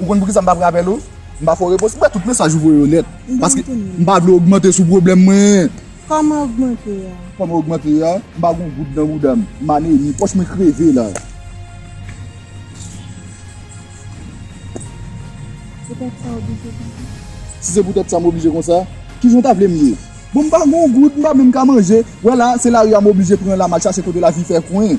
Ou konn poukisa m pa rapèl ou? M pa fè w repons. M wè tout mesaj ou voye yo nèt. Paske m pa vle ogmante sou pwoblèm mwen. Kòman ogmante a? Kòman ogmante a? M pa gen yon goud nan bouda m. M anemi. Pòch mwen kreve la. Se tèt sa w oblije konsa? Si se pou tèt sa m oblije konsa, ki jan w ta vle m ye? Bon m pa gen yon goud, m pa menm ka manje. Wè la, se lari a m oblije pran la m al chache kote lavi fè kwen.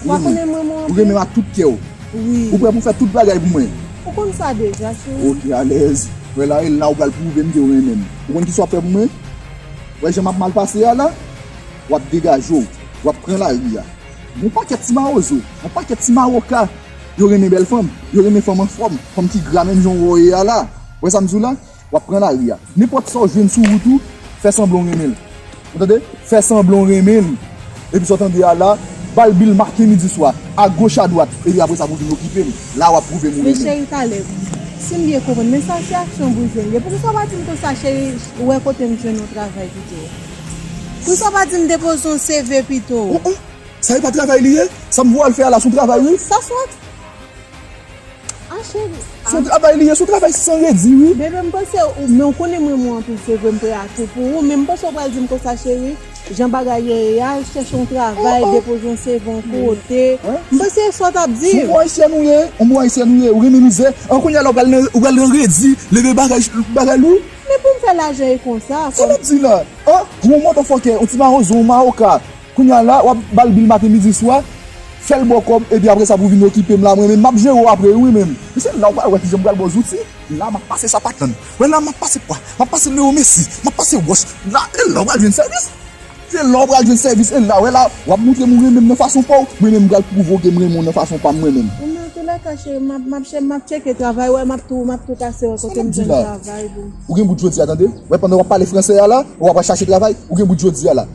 Ou pa konnen m renmen w anpil? Ou renmen m ak tout kè w? Wi. Ou prè pou w fè tout bagay pou mwen? Ou konn sa deja, cheri. Ok, alèz. Wè la, e la ou pral pwouve m ke ou renmen m. Ou konn kisa w ap fè pou mwen? Wè jan m ap mal pase a la? W ap degaje w. W ap pran lari a. Gon pakèt ti mawozo, gon pakèt ti mawoka, yo renmen bèl fanm, yo renmen fanm anfòm, fanm ki gra menm jan w wè w ye a la. Wè sa m di w la? W ap pran lari a. Nenpòt sa w jwenn sou wout ou, fè sanblan w renmen li. Ou tande? Fè sanblan w renmen li. Epi sa w tande a la, ba l bi l maten, midi, swa. Agoch, adwat. Epi apre sa pou w vin okipe m. La a w ap pwouve m ou renmen m. Men cheri Caleb, si m byen konprann, men sa se aksyon bouzen l ye. Poukisa w pa di m konsa, cheri, ou wè kote m jwenn yon travay pito? Poukisa w pa di m depoze yon CV pito? Ohh ohh! Sa e pa travay li ye? Sa m voye l fè a la s on travay wi? Sa swat! Ah chéri. Son travay li ye, son travay san redi wi. Bebe m panse ou, men ou konnen m renmen w anpil se vre m pre a tou pou ou men m panse ou pral di m konsa chéri jan bagay yo ye al chèche yon travay depoze yon CV yon kote m panse e sa w t ap di m. Son bon ayisyèn ou ye, on bon ayisyèn ou ye, ou renmen mizè, an kounye a la ou pral nan ou pral nan redi, leve bagay bagay lou. Men pou m fè lajan e konsa. Sa w ap di la? An? Ou on mòdòfòkè, on ti mawon zon, on mawoka. Kounya la wap bal bil maten midi swa, fèl baw kòb epi apresa pou vin okipem la mwen menm map jere w apre wi menm. Mesye la ou pa wè kijan m pral baw zouti la map pase sa pa tann wè la map pase pwa map pase leo messi map pase wòch la e la ou pral jwenn sèvis se la ou pral jwenn sèvis e la wè la wap moutrem ou renmenm nan fason paw mwen menm m pral pwouve w kem renmen w nan fason pam mwen menm. Ou nan tou la ka cheri map map chèm map tcheke travay wè map tou map tou pase wè kotem jwenn travay boo. Ou gen bout jodia tande wè pandan wap pale fransè a la wap al chache travay ou gen bout jodia la.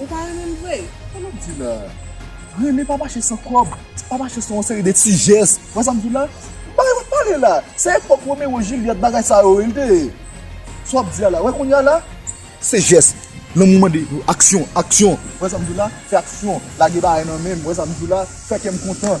Ou pa renmen l vre? Sa nap di la? Renmen pa mache san kòb, pa mache san yon seri de ti jès. Ou wè sa m di la? Bagay wap pale la? Se epòk Romero Juliette bagay sa yo wi l te ye. Sa wap di a la? Ou wè kounye a la? Se jès. Lanmou mande aksyon, aksyon. Ou wè sa m di la? Fè aksyon. Lage bagay nan men m. Ou wè sa m di la? Fè kè m kontan.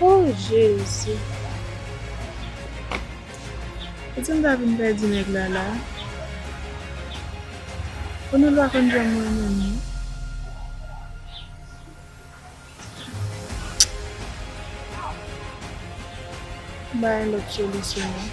Oh jezi. Kote m ta vin pèdi nèg la la. Konel pa konn janm renmen m non. M ba yon lòt solisyon non.